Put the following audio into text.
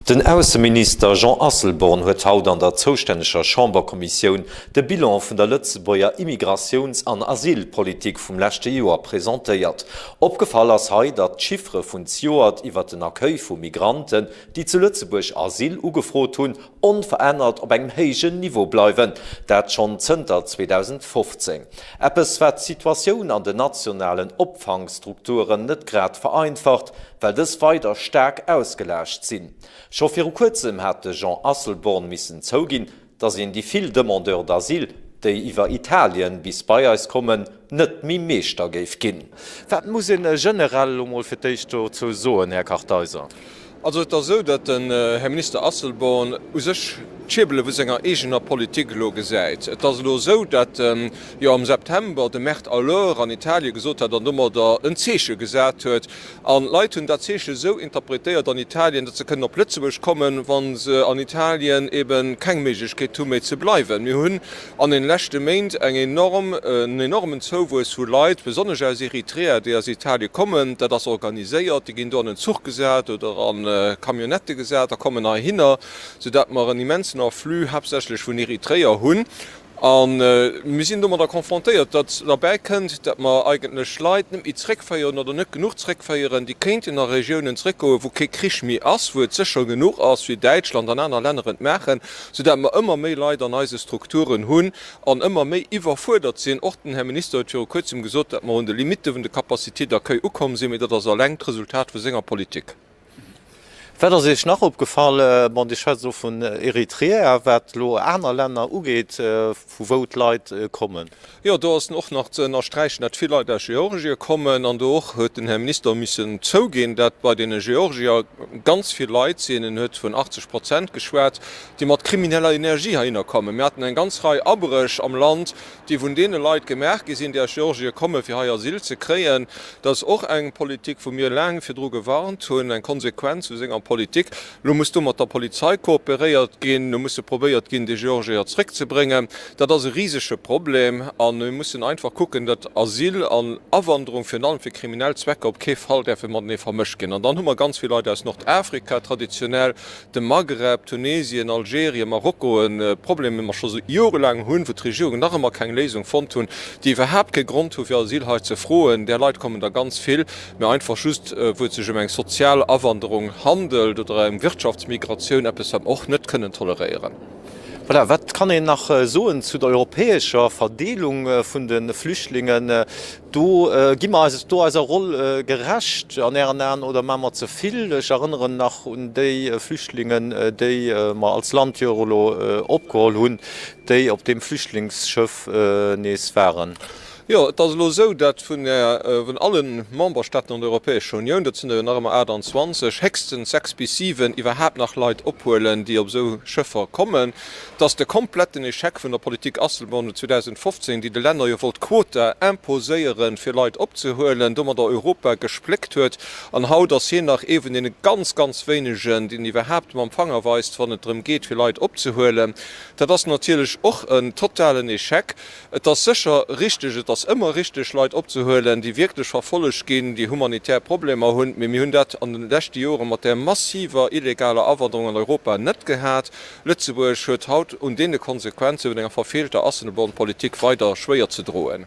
Den Ausseminister Jean Asselborn huet haut an der zoustänneger Chamberkommissioun de Bilan vun der Lëtzebuerger Immigratiouns an Asylpolitik vum leschte Joer presentéiert. Opgefall ass hei, datt d'Chiffere vun zjoert iwwer den Accueil vu Migranten, déi zu Lëtzebuerg Asyl ugefrot hunn, onverännert op engem héijen Niveau bleiwen, dat schonn zënter 2015. Eppes wat d'Situatioun an den nationalen Opfangstrukturen net grad vereinfacht, well dës weider staark ausgelaascht sinn. Scho viru kuerzem hat de Jean Asselborn missen zouginn, datt een déi vill Demandeurs d'asile, déi iwwer Italien bis bei eis kommen, net méi Meeschter géif ginn. Wat muss ee generell elo mol fir d'éischt dozou soen, Här Kartheiser? Also et ass esou, datt den Här Minister Asselborn u sech d'Schierbele vu senger eegener Politik elo gesäit. Et ass elo esou, datt en jo am September de Merd à l'heure an Italien gesot hat an domadder en Zeeche gesat huet. An d'Leit hunn dat Zeeche esou interpretéiert an Italien, datt se kënnen op Lëtzebuerg kommen, wa se an Italien eeben keng Méiglechkeet hu méi ze bleiwen. Mir hunn An den leschte Méint eng enorm, en enormen Zouwuess vu Leit, besonnesch aus Eritrea, déi aus Italien kommen. Dat ass organiséiert, déi ginn do an en Zuch gesat oder an Camionnettë gesat a kommen heihinner, soudatt mer en immensen Afflux haaptsächlech vun Eritreer hunn. A mir sinn domadder konfrontéiert, datt derbäi kënnt, datt mer eigentlech Leit net méi zréckféieren oder net genuch zréckféieren, déi kéinten a Regiounen zréckgoen, wou kee Krich méi ass, wou et sécher genuch ass, wéi Däitschland an aner Länner et maachen. soudatt mer ëmmer méi Leit an eise Strukturen hunn an ëmmer méi iwwerfuerdert sinn. Och den Här Minister huet viru Kuerzem gesot, datt mer un de Limitte vun de Capacité d'accueil ukomm sinn, mee dat ass alleng d'Resultat vu senger Politik. Wat ass Iech nach opgefall? Bon, Dir schwätzt elo vun Eritrea, wat elo aner Länner ugeet, vu wou d'Leit kommen. Jo, do ass och nach ze ënnersträichen, datt vill Leit aus Georgie kommen an do och huet den Här Minister missen zouginn, datt bei deene Georgier ganz vill Leit sinn, en huet vun 80 Prozent geschwat, déi mat krimineller Energie heihinner kommen. Mir haten eng ganz Rei Abréch am Land, déi vun deene Leit gemaach gi sinn, déi aus Georgie kommen, fir hei Asyl ze kréien. Dat ass och eng Politik, wou mir laang virdru gewarnt hunn, eng Konsequenz vu senger Politik. Elo muss do mat der Polizei kooperéiert ginn, elo musse probéiert ginn, déi Georgeër zréckzebréngen. Dat ass e risege Problem a mir mussen einfach kucken, datt Asyl an Awanderung, virun allem fir kriminell Zwecker, op kee Fall däerfe matenee vermëscht ginn. An dann hu mer ganz vill Leit aus Nordafrika, traditionell dem Maghreb, Tunesien, Algerien, Marokko, e Problem, dee mer scho jorelaang hunn, wou d'Regierungen nach ëmmer keng Léisung fonnt hunn, déi iwwerhaapt kee Grond hu fir Asyl hei ze froen. Där Leit kommen der ganz vill. mä einfach just wou et sech ëm eng sozial Awanderung handelt oder eng Wirtschaftsmigratioun, eppes wat mer och net kënnen toleréieren. Voilà, wat kann een nach soen zu der europäescher Verdeelung vun de Flüchtlingen? Do gi mer eis do eiser Roll gerecht an Ären Aen oder maache mer ze vill? Ech erënneren nach un déi Flüchtlingen, déi mer als Land jo elo opgeholl hunn, déi op deem Flüchtlingsschëff nees waren. Jo, et ass elo esou, datt vun der, vun alle Memberstaaten an der Europäescher Unioun, dat sinn der jo nach ëmmer 28, héchstens sechs bis siwen iwwerhaapt nach Leit ophuelen, déi op esou Schëffer kommen, datt de kompletten Echec vun der Politik Asselborn no 2015, déi de Länner jo wollt Quota imposéieren, fir Leit opzehuelen, domadder Europa gespléckt huet. An haut ass hien nach ee vun deene ganz, ganz wéinegen, deen iwwerhaapt mam Fanger weist, wann et drëm geet, fir Leit opzehuelen. Dat ass natierlech och en totalen Echec. Et ass sécher richteg, et ass ëmmer richteg, Leit opzehuelen, déi wierklech verfollegt ginn, déi humanitär Problemer hunn, mee mir hunn dat an de leschte Jore mat där massiver illegaler Awanderung an Europa net gehat. Lëtzebuerg huet haut un deene Konsequenze vun enger verfeelter Asselborn-Politik weider schwéier ze droen.